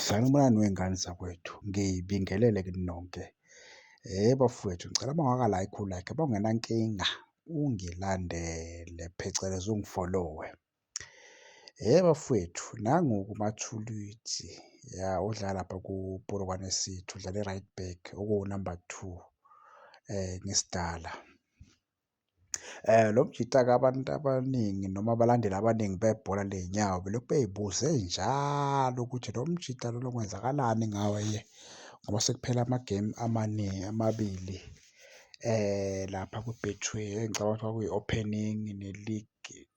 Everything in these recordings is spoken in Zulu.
Sanibonani wey'ngane zakwethu, ngibingelele kini nonke. Bafowethu ngicela uma ungaka like u-like, uma ungenankinga ungilandele phecelezi ungifolowe. Bafowethu nangu-ke uMathulwitzi ya odlala lapha kuPolokwane City, udlala e-right back okuwu-number two ngesidala. Lo mjita-ke abantu abaningi noma abalandeli abaningi bebhola ley'nyawo belokhu bey'buze njalo ukuthi lo mjita lona kwenzakalani ngaye ngoba sekuphele amagemu amaningi amabili lapha kwi-Betway engicabanga ukuthi kwakuyi-opening ne-league.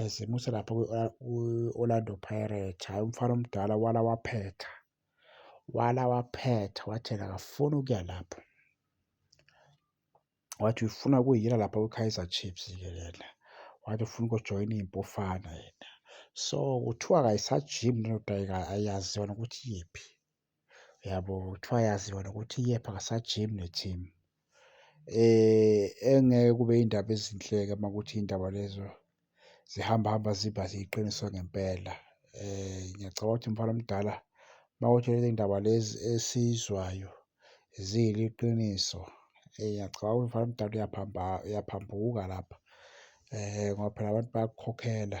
as muselapha kwi-orlando pirate hhayi umfana omdala wala waphetha wala waphetha wathi yena akafuni ukuya lapho wathi ufuna kuyiyela lapha kwi-kaizer chiefs ke yena wathi ufuna ukujoyina iy'mpofana yena so kuthiwa kayisajimi lento ayaziwa nokuthi yiphi Uyabo kuthiwa yaziwa nokuthi iyepha akasajimi ne-team. Engeke kube iy'ndaba ezinhle-ke uma kuwukuthi iy'ndaba lezo zihamba hamba ziba yiqiniso ngempela. Ngiyacabanga ukuthi mfana omdala uma kuwukuthi lezi ndaba lezi esiyizwayo ziyiliqiniso, ngiyacabanga ukuthi mfana omdala uyaphambuka lapha ngoba phela abantu bayakukhokhela.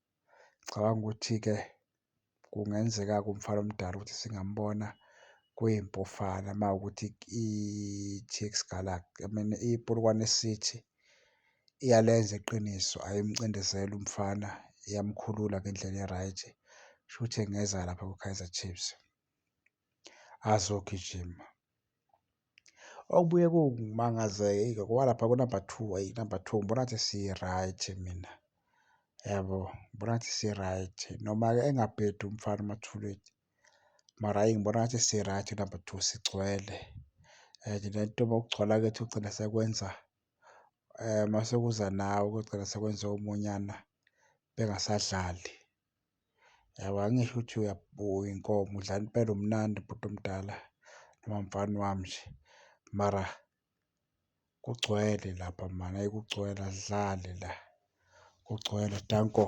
Ngicabanga ukuthi-ke kungenzeka kumfana omdala ukuthi singambona kwiMpofana uma kuwukuthi i-TX Galaxy, I mean iPolokwane City iyalenza iqiniso ayimcindezeli umfana, iyamkhulula ngendlela e-right. Kushuthi engeza lapha kwiKaizer Chiefs. azogijima okubuye kungimangaze ngoba lapha kunumber two ayi number two ngibona ngathi si-right mina yabo ngibona ngathi si-right noma-ke engabhedi umfana umathuleni mara ayi ngibona ngathi si-right number two sigcwele and nento bokugcwala kwethu kugcina sekwenza um masekuza nawe kugcina sekwenza omunyana bengasadlali. Yabo angisho ukuthi uyabuya inkomo udla impela umnandi bhuti omdala noma mfana wami nje mara kugcwele lapha mani ayi kugcwele asidlali la kugcwele danko.